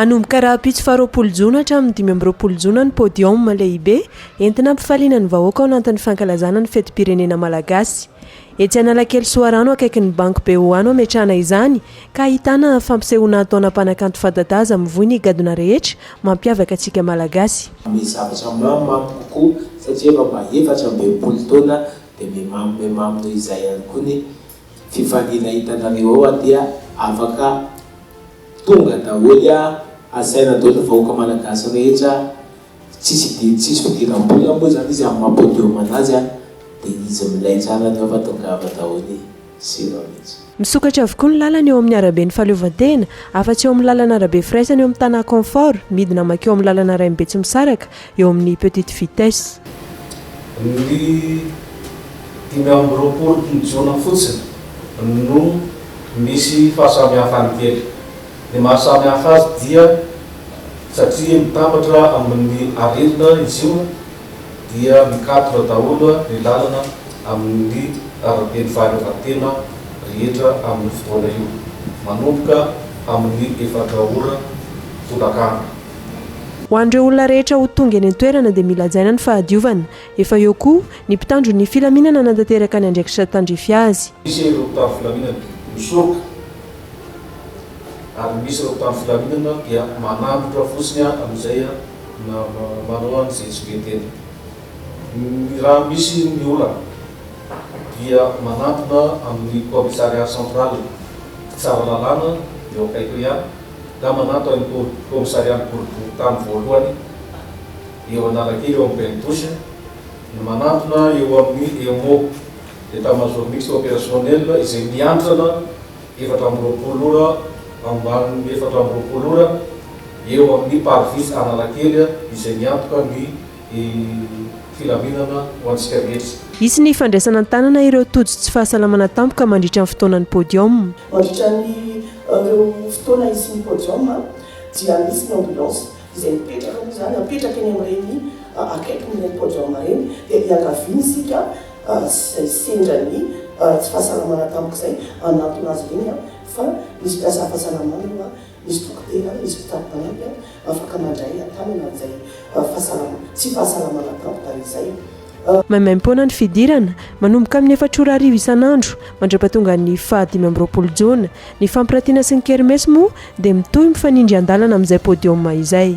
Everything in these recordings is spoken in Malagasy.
Hanomboka rahampitso faharoapolo jona hatramin'ny dimy amby roapolo jona ny podium lehibe entina hampifaliana ny vahoaka ao anatin'ny fankalazana ny fetim-pirenena malagasy. Etsy Analakely Soarano akaikin'ny banky BOA no hametrahana izany ka ahitana fampisehoana hataona mpanakanto fadadaza mivoy ny gadona rehetra mampiavaka antsika malagasy. Hanome zavatra mamo mamo kokoa satria efa mba efatra amby enimpolo taona Dia memamo memamo noho izay ihany koa ny fifaliana hitanareo ao aty a! Afaka tonga daholo a! Asaina daholo ny vahoaka malagasy rehetra a! Tsisy idiran'ny tsisy fidiram-bola moa izany izy amin'ny maha podium anazy a! Dia izy milay tsara ny ao fa tongava daholo e! sira mihitsy. Misokatra avokoa ny lalana eo amin'ny araben'ny fahaleovantena, afa-tsy eo amin'ny lalan'arabe firaisana eo amin'ny tanà Confort, midina mankeo amin'ny lalana rain'ny Betsimisaraka, eo amin'ny petite vitesse. Ny dimy amby roapolo jona fotsiny no misy fahasamihafany kely. Ny maha samy hafa azy dia satria mitambatra amin'ny arindrina izy io, dia mikatroka daholo ny lalana amin'ny araben'ny fahaleovantena rehetra amin'io fotoana io, manomboka amin'ny efatra ora tolakandro. Ho an'ireo olona rehetra ho tonga eny an-toerana dia mila hajaina ny fahadiovana. Efa eo koa ny mpitandro ny filaminana hanatanteraka ny andraikitra tandrify azy. Misy ireo mpitandro filaminana misoroka ary misy ireo mpitandro filaminana dia manambotra fotsiny amin'izay. Na manao an'izay tsy be tena. Ny raha misy ny olana dia manantona amin'ny Commissariat central, mpitsara lalàna eo akaikiny ihany, na manantona ny Commissarian'ny boriborintany voalohany eo Analakely eo amin'ny Belle Touche, ny manantona eo amin'ny EMO, Etat-major mixte opérationnel, izay miantrana efatra amby roapolo ora ambany efatra amby roapolo ora eo amin'ny Parvis Analakely izay miantoka ny filaminana ho antsika rehetra. Hisy ny fandraisana an-tanana ireo tojo tsy fahasalamana tampoka mandritra ny fotoanan'ny podium. Mandritra an'ireo fotoana hisian'ny podium dia misy ny ambulance izay mipetraka moa izany, apetraka eny amin'ireny akaikin'ireny podium ireny dia iangaviana isika, ary tsy izay sendra ny tsy fahasalamana tamiko izay hanantona azy ireny an, fa misy mpiasa fahasalamana eo an, misy dokotera, misy mpitari-panampy an, afaka mandray an-tanana an'izay fahasalama, tsy fahasalamana tamiko tamin'izay. Maimaim-poana ny fidirana, manomboka amin'ny efatra ora hariva isan'andro mandra-pahatonga ny faha dimy amby roapolo jona. Ny fampirantiana sy ny kermesy moa dia mitohy mifanindry an-dalana amin'izay podium izay.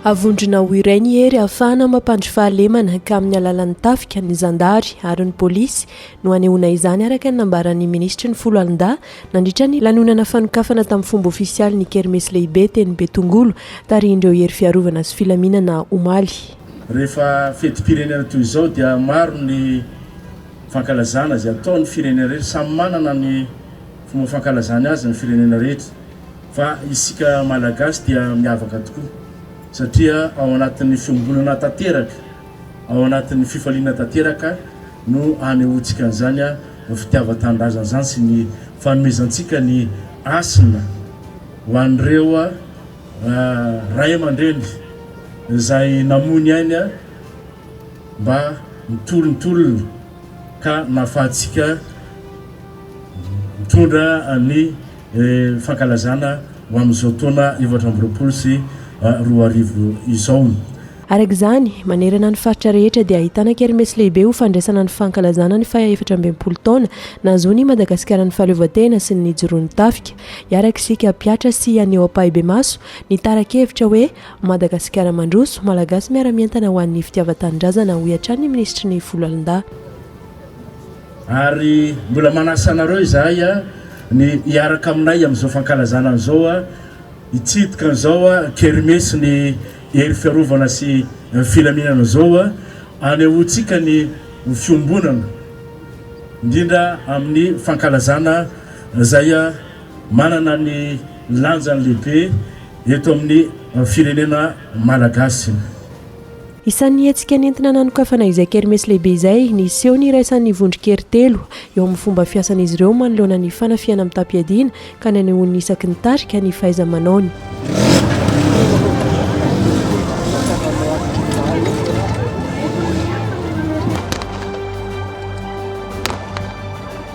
Avondrona ho iray ny hery ahafahana mampandry fahalemana ka amin'ny alalan'ny tafika ny zandary ary ny polisy no hanehoana izany araka ny nambaran'ny minisitry ny foloalindahy nandritra ny lanonana fanokafana tamin'ny fomba ofisialy ny kermesy lehibe teny Betongolo tarihin'ireo hery fiarovana sy filaminana omaly. Rehefa fetim-pirenena toy izao dia maro ny fankalazana izay ataon'ny firenena rehetra. Samy manana ny fomba fankalazany azy ny firenena rehetra fa isika Malagasy dia miavaka tokoa satria ao anatin'ny fiombonana tanteraka, ao anatin'ny fifaliana tanteraka no anehoantsika an'izany fitiavan-tanindrazana izany sy ny fanomezantsika ny hasina ho an'ireo Ray aman-dreny izay namoy ny ainy mba nitorintorin'ny ka nahafahantsika nitondra ny fankalazana ho amin'izao taona efatra amby roapolo sy roa arivo izao. Araka izany, manerana ny faritra rehetra dia ahitana kermesy lehibe ho fandraisana ny fankalazana ny faha efatra ambin'ny folo taona nahazoan'I Madagasikara ny fahaleovantena sy ny nijoroan'ny tafika. Hiarak'isika hampihatra sy haneho ampahibemaso ny tarakevitra hoe Madagasikara mandroso, Malagasy miara-mientana ho an'ny fitiavan-tanindrazana, hoy hatrany ny minisitry ny Foloalindahy. Ary mbola manasa anareo izahay ny hiaraka aminay amin'izao fankalazana an'izao, hitsidika an'izao kermesy ny hery fiarovana sy filaminana izao, hanehoantsika ny fiombonana, indrindra amin'ny fankalazana izay manana ny lanjany lehibe eto amin'ny firenena malagasy. Isan'ny hetsika nentina nanokafana izay kermesy lehibe izay, ny seho niraisan'ny vondron-kery telo eo amin'ny fomba fiasan'izy ireo manoloana ny fanafihana mitam-piadiana ka nanehoany isaky ny tarika ny fahaiza-manaony.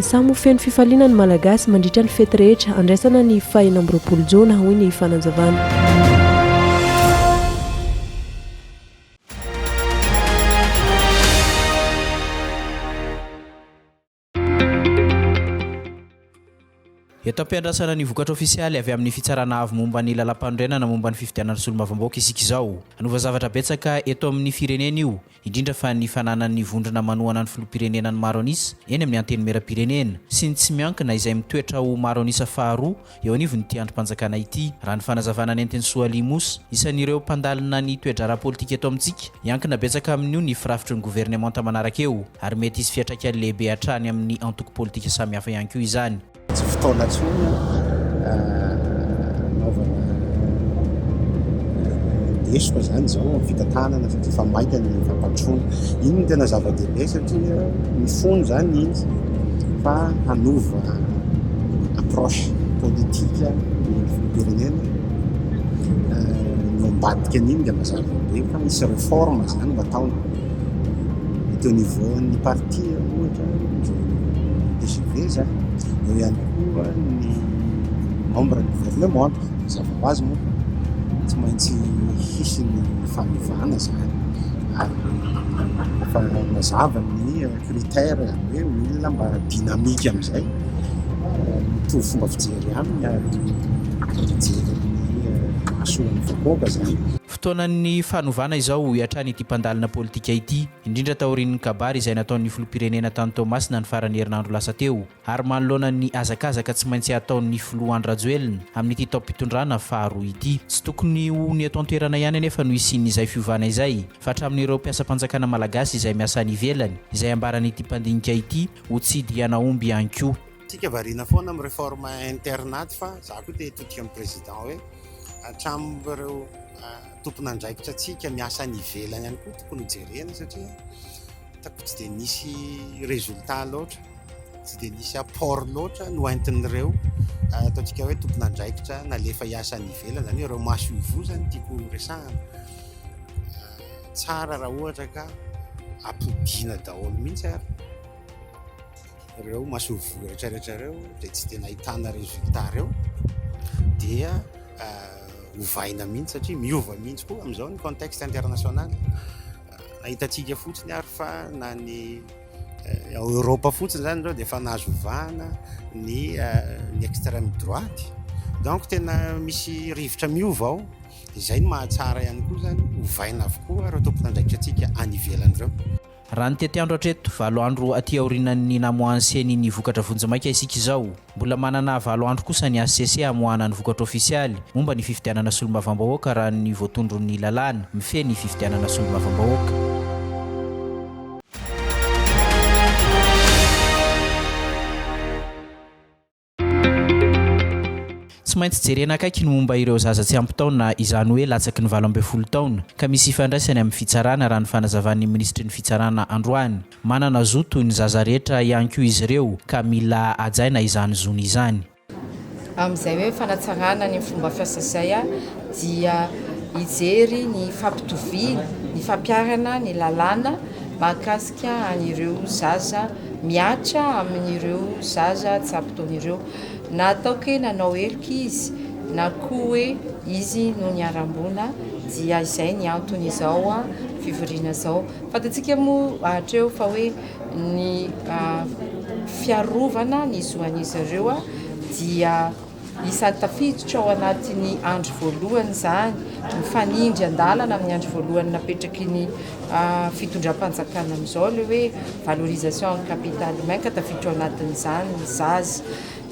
Samy ho feno fifaliana ny Malagasy mandritra ny fety rehetra handraisana ny faha enina amby roapolo Jona, hoy ny fanazavana. Eto am-piandrasana ny vokatra ofisialy avy amin'ny Fitsarana Avo momba ny Lalàmpanorenana momba ny Fifidianana Solombavambahoaka isika izao. Hanova zavatra betsaka eto amin'ny firenena io, indrindra fa ny fananan'ny vondrona manohana ny Filoham-pirenena ny maro an'isa eny amin'ny Antenimierampirenena, sy ny tsy miankina izay mitoetra ho maro an'isa faharoa eo anivon'ity andrim-panjakana ity. Raha ny fanazavana nentin'i Soali Moussa, isan'ireo mpandalina ny toe-draharaha politika eto amintsika, hiankina betsaka amin'io ny firafitry ny governemanta manaraka eo, ary mety hisy fiantraikany lehibe hatrany amin'ny antoko politika samihafa ihany koa izany. Tsy fotoana intsony hanaovana lesoka izany izao amin'ny fitantanana fa dia efa maika ny fampandrosoana. Iny no tena zava-dehibe satria mifono izany izy fa hanova approche politika ny filoham-pirenena no ambadika an'iny dia mazava be fa hisy réforme zany no atao eto niveau-n'ny parti ohatra TGV zany eo ihany koa ny membre ny gouvernement mazava ho azy moa tsy maintsy hisy ny fanovana zany ary efa mazava ny Critère izany hoe olona mba dynamique amin'izay, mitovy fomba fijery aminy ary mijery amin'ny mahasoan'ny vahoaka izany. Fotoanan'ny fanovana izao, hoy hatrany ity mpandalina politika ity, indrindra taorian'ny kabary izay nataon'ny filoham-pirenena tany Toamasina ny faran'ny herinandro lasa teo. ary manoloana ny hazakazaka tsy maintsy hataon'ny Filoha Andry Rajoelina amin'ity taom-pitondrana faharoa ity. Tsy tokony ho ny eto an-toerana ihany anefa no hisian'izay fiovana izay, fa hatramin'ireo mpiasam-panjakana malagasy izay miasa any ivelany, izay ambaran'ity mpandinika ity ho tsidry hianahomby ihany koa. Tsika variana foana amin'ny réforme internat fa za koa te hitodika amin'ny président hoe hatramin'ireo tompon'andraikitra tsika miasa any ivelany ihany koa tokony ho jerena satria Hitako tsy dia nisy résultat loatra, tsy dia nisy apport loatra no entin'ireo ataontsika hoe tompon'andraikitra nalefa hiasa any ivelany, izany hoe ireo maso ivoho izany no tiako horesahana. Tsara raha ohatra ka ampodiana daholo mihitsy ary ireo maso ivoho rehetrarehetra ireo dia tsy dia nahitana résultat ireo dia ovaina mihitsy satria miova mihitsy koa amin'izao ny contexte international. Ahitantsika fotsiny ary fa na ny ao Eoropa fotsiny izany izao dia efa nahazo vahana ny ny extrême droite. Donc tena misy rivotra miova ao. Izay no mahatsara ihany koa izany, ovaina avokoa ireo tompon'andraikitratsika any ivelany ireo. Raha ny tetiandro hatreto, valo andro aty aorianan'ny namoahan'ny ceni ny vokatra vonjimaika isika izao. Mbola manana valo andro kosa ny hcc hamoahana ny vokatra ofisialy momba ny fifidianana solombavambahoaka raha ny voatondron'ny lalàna mifehy ny fifidianana solombavambahoaka. Tsy maintsy jerena akaiky ny momba ireo zaza tsy ampy taona izany hoe latsaky ny valo ambin'ny folo taona ka misy ifandraisany amin'ny fitsarana raha ny fanazavan'ny minisitry ny fitsarana androany. Manana zo toy ny zaza rehetra ihany koa izy ireo, ka mila hajaina izany zony izany. Amin'izay hoe fanatsarana ny fomba fiasa izay dia hijery ny fampitoviana, ny fampiharana ny lalàna mahakasika an'ireo zaza mihatra amin'ireo zaza tsy ampy taona ireo. Na ataoko hoe nanao heloka izy na koa hoe izy no niharam-boina dia izay ny anton'izao fivoriana izao. Fantatsika moa hatreo fa hoe ny fiarovana ny zo an'izy ireo dia isan'ny tafiditra ao anatin'ny andry voalohany izany, mifanindry an-dalana amin'ny andry voalohany napetraky ny fitondram-panjakana amin'izao ilay hoe valorisation en capital humain ka tafiditra ao anatin'izany ny zaza.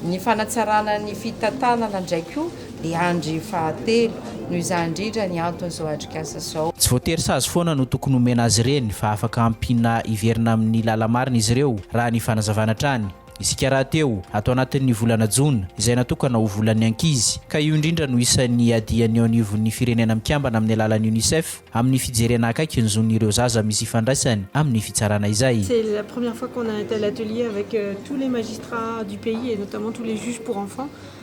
Ny fanatsarana ny fitantanana indray koa I Andry fahatelo, noho izany indrindra ny anton'izao atrikasa izao. Tsy voatery sazy foana no tokony homena azy ireny fa afaka ampiana hiverina amin'ny lala-marina izy ireo, raha ny fanazavana hatrany. Isika rahateo, ato anatin'ny volana jona, izay natokana ho volan'ny ankizy, ka io indrindra no isan'ny iadian'ny eo anivon'ny Firenena Mikambana amin'ny alalan'ny Unicef amin'ny fijerena akaiky ny zon'ireo zaza misy ifandraisany amin'ny fitsarana izay. C'est la première fois qu'on a un tel atelier avec tous les magistrats du pays et notamment tous les juges pour enfants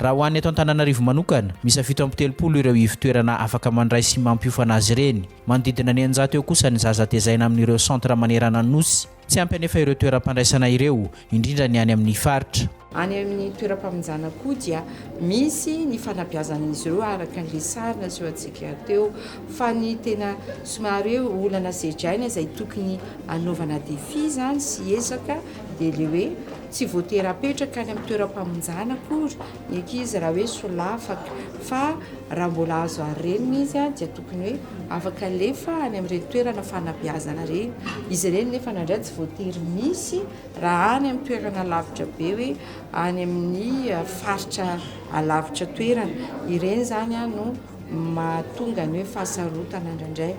Raha ho an'ny eto Antananarivo manokana, miisa fito amby telopolo ireo ivon-toerana afaka mandray sy mampiofana azy ireny. Manodidina ny eninjato eo kosa ny zaza tezaina amin'ireo centre manerana ny Nosy. Tsy ampy anefa ireo toeram-pandraisana ireo, indrindra ny any amin'ny faritra. Any amin'ny toeram-pamonjana koa dia misy ny fanabeazan'izy ireo araka an'ilay sary nasehontsika teo. Fa ny tena somary hoe olana sedraina izay tokony hanaovana défi izany sy ezaka dia ilay hoe, Tsy voatery hapetraka any amin'ny toeram-pamonjana akory ny ankizy raha hoe solafaka fa raha mbola azo ary reniny izy dia tokony hoe afaka alefa any amin'ireny toerana fanabeazana ireny. Izy ireny nefa na indray tsy voatery misy raha any amin'ny toerana lavitra be hoe any amin'ny faritra alavitra toerana. Ireny izany no mahatonga ny hoe fahasarotana indraindray.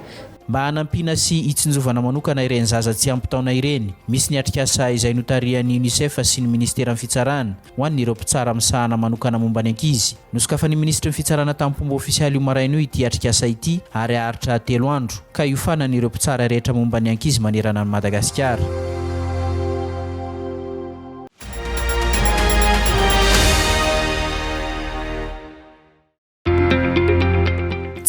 Mba hanampiana sy hitsinjovana manokana ireny zaza tsy ampy taona ireny, misy ny atrikasa izay notarihan'ny Unicef sy ny Ministeran'ny Fitsarana ho an'ireo mpitsara misahana manokana momba ny ankizy. Nosokafan'ny Minisitry ny Fitsarana tamim-pomba ofisialy io maraina io ity atrikasa ity ary haharitra telo andro, ka hiofanan'ireo mpitsara rehetra momba ny ankizy manerana an'i Madagasikara.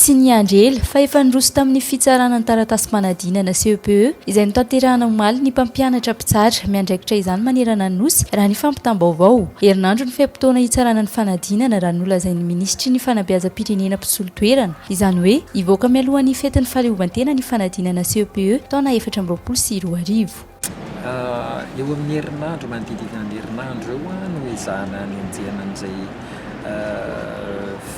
Tsy niandry ela fa efa niroso tamin'ny fitsarana ny taratasim-panadinana CEPE izay notanterahana omaly ny mpampianatra mpitsara miandraikitra izany manerana ny Nosy raha ny fampitam-baovao. Herinandro ny fe-potoana hitsarana ny fanadinana raha ny nolazain'ny minisitry ny fanabeazam-pirenena mpisolo toerana. Izany hoe hivoaka mialohan'ny fetin'ny fahaleovantena ny fanadinana CEPE taona efatra amby roapolo sy roa arivo. Eo amin'ny herinandro, manodididina ny herinandro eo no ezahana ny hanenjehana an'izay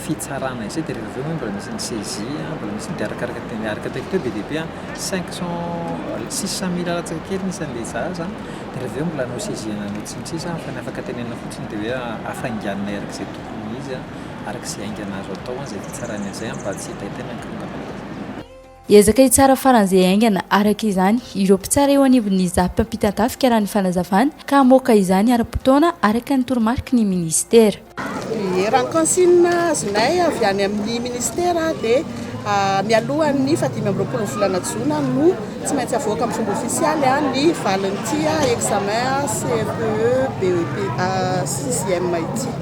fitsarana izay, dia rehefa avy eo moa mbola misy ny saisie, mbola misy ny, dia arakaraka ny tena, araka ataoko teo be dia be an, cinq cent, six cent mille latsaka kely ny isan'ny le zaza an, dia rehefa avy eo mbola nosaisie-na anao sy ny sisa, fa ny afaka tenenina fotsiny dia hoe hafainganina araka izay tokony ho izy an, araka izay haingana azo atao an, izay fitsarana izay an, mba tsy hitaitaina ny korontana. Hiezaka hitsara faran'izay haingana, araka izany, ireo mpitsara eo anivon'ny Zap mpampitan-tafika raha ny fanazavana, ka hamoaka izany ara-potoana, araka ny toromariky ny minisitera. Ny rankonsina azonay avy any amin'ny minisitera dia mialohan'ny fahadimy amby roapolon'ny volana jona no tsy maintsy avoaka amin'ny fomba ofisialy ny valin'ity examen CFEE, BEPA, sixième ity.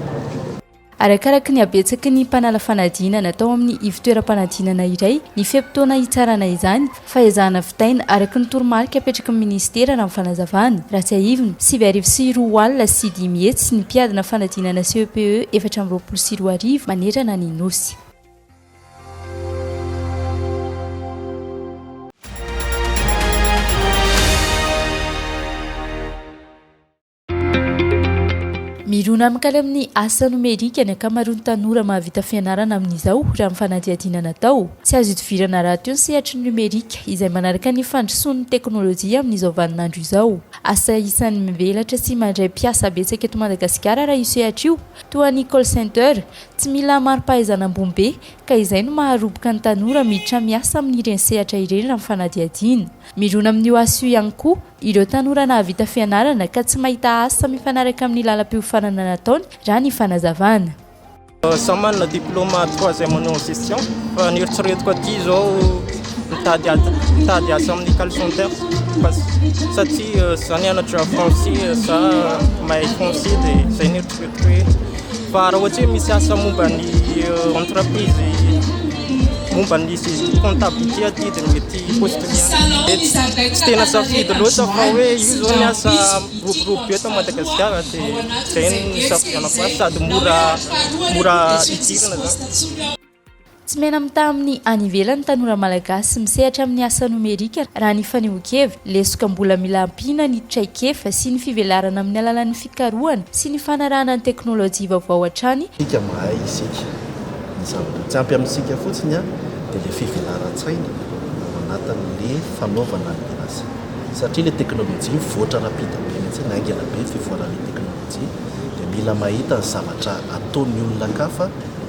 Arakaraky ny habetsaky ny mpanala fanadinana atao amin'ny ivontoeram-panadinana iray ny fe-potoana hitsarana izany fa ezahana vitaina araka ny toromarika apetraky ny minisitera raha ny fanazavana. Raha tsiahivina, sivy arivo sy roa alina sy dimy hetsy ny mpiadina fanadinana CEPE efatra amby roapolo sy roa arivo manerana ny Nosy. Mirona amin-kany amin'ny asa nomerika ny ankamaroan'ny tanora mahavita fianarana amin'izao, raha ny fanadihadiana natao. Tsy azo idivirana rahateo ny sehatry ny nomerika, izay manaraka ny fandrosoan'ny teknolojia amin'izao vaninandro izao. Asa isan'ny mivelatra sy mandray mpiasa betsaka eto Madagasikara raha io sehatra io, toa ny call center. Tsy mila mari-pahaizana ambony be, ka izay no maharoboka ny tanora miditra miasa amin'ireny sehatra ireny, raha ny fanadihadiana. Mirona amin'io asa io ihany koa. Ireo tanora nahavita fianarana ka tsy mahita asa mifanaraka amin'ny lalam-piofanana nataony, raha ny fanazavana. Samy manana diplôma troisième année en gestion fa ny eritreretiko aty izao mitady mitady asa amin'ny call center fa satria za nianatra français za mahay français dia zay ny eritreretiko. Fa raha ohatra hoe misy asa momba ny entreprise momba ny comptabilité aty dia mety postule ihany. Tsy tena safidy loatra fa hoe io izao ny asa miroborobo be eto Madagasikara dia izay no nisafidianako azy sady mora mora idirana izany. Tsy mena-mitaha amin'ny any ivelany ny tanora malagasy misehatra amin'ny asa nomerika, raha ny fanehoan-kevitra. Lesoka mbola mila ampiana ny traikefa sy ny fivelarana amin'ny alalan'ny fikarohana sy ny fanarahana ny teknolojia vaovao hatrany. Isika mahay isika ny zavatra. Tsy ampy amintsika fotsiny dia ilay fivelaran-tsaina ao anatin'ilay fanaovana ny asa. Satria ilay teknolojia mivoatra rapida be mihitsy, haingana be ny fivoaran'ilay teknolojia, dia mila mahita ny zavatra ataon'ny olona an-kafa.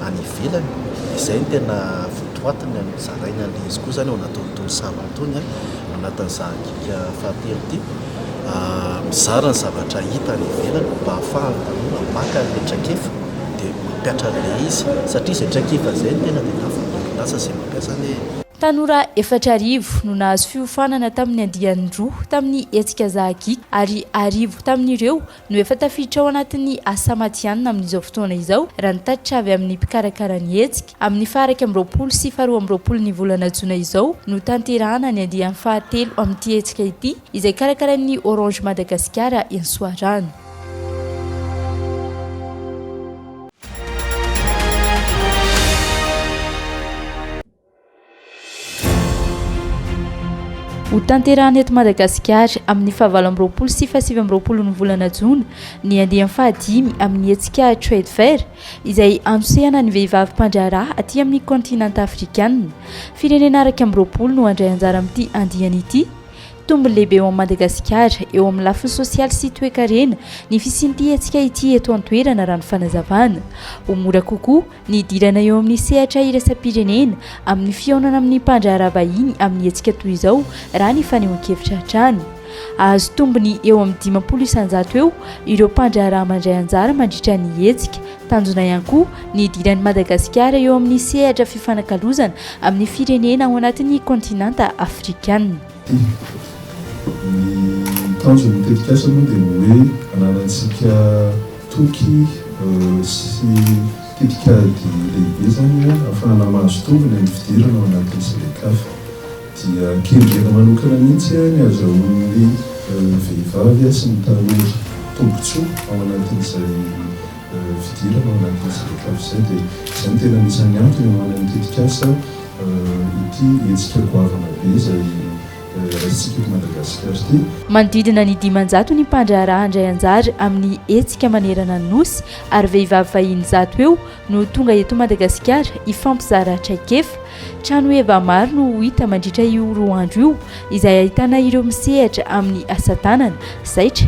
any ivelany, izay no tena votoatiny amin'ny zarainy an'ilay izy koa izany ao anatin'itony sambany itony, ao anatin'ny zahakika fahatelo ity, mizara ny zavatra hita any ivelany mba hahafahan'ny tanora maka an'ilay traikefa dia mampiatra an'ilay izy satria izay traikefa izay no tena dia nahafahan'ny orinasa izay mampiasa an'ilay izy. Tanora efatra arivo no nahazo fiofanana tamin'ny andiany roa tamin'ny hetsika zahakika ary arivo tamin'ireo no efa tafiditra ao anatin'ny asa matihanina amin'izao fotoana izao, raha ny tatitra avy amin'ny mpikarakara ny hetsika. Amin'ny faha iraika amby roapolo sy faha roa amby roapolon'ny volana jona izao no tanterahana ny andiany fahatelo amin'ity hetsika ity, izay karakarain'ny Orange Madagasikara eny Soarano. Ho tanterahana eto Madagasikara amin'ny fahavalo amby roapolo sy fahasivy amby roapolon'ny volana jona ny andiany fahadimy amin'ny hetsika Trade Fair izay hanosehana ny vehivavy mpandraharaha aty amin'ny kaontinanta afrikana. Firenena iraika amby roapolo no handray anjara amin'ity andiany ity. Tombony lehibe eo amin'i Madagasikara eo amin'ny lafiny sosialy sy toekarena ny fisian'ity hetsika ity eto an-toerana raha ny fanazavana. Ho mora kokoa Ny hidirana eo amin'ny sehatra iraisam-pirenena amin'ny fihaonana amin'ny mpandraharaha vahiny amin'ny hetsika toy izao raha ny fanehoan-kevitra hatrany. Hahazo tombony eo amin'ny dimampolo isan-jato eo ireo mpandraharaha mandray anjara mandritra ny hetsika. Tanjona ihany koa ny hidiran'i Madagasikara eo amin'ny sehatra fifanakalozana amin'ny firenena ao anatin'ny kaontinanta afrikanina. Ny tanjon'ny tetikasa moa dia ny hoe ananantsika toky sy tetikady lehibe izany hoe ahafahana mahazo tombony amin'ny fidirana ao anatin'ny CEDECAF. Dia kendrena manokana mihitsy ny hahazahoan'ny vehivavy sy ny tanora tombontsoa ao anatin'izay fidirana ao anatin'ny CEDECAF izay. Dia izay no tena anisan'ny antony hanaovana ny tetikasa. Ity hetsika goavana be izay raisintsika eto Madagasikara ity. Manodidina ny dimanjato ny mpandraharaha handray anjara amin'ny hetsika manerana ny Nosy ary vehivavy vahiny zato eo no tonga eto Madagasikara hifampizara traikefa. Tranoheva maro no ho hita mandritra io roa andro io izay ahitana ireo misehatra amin'ny asa tanana, zaitra,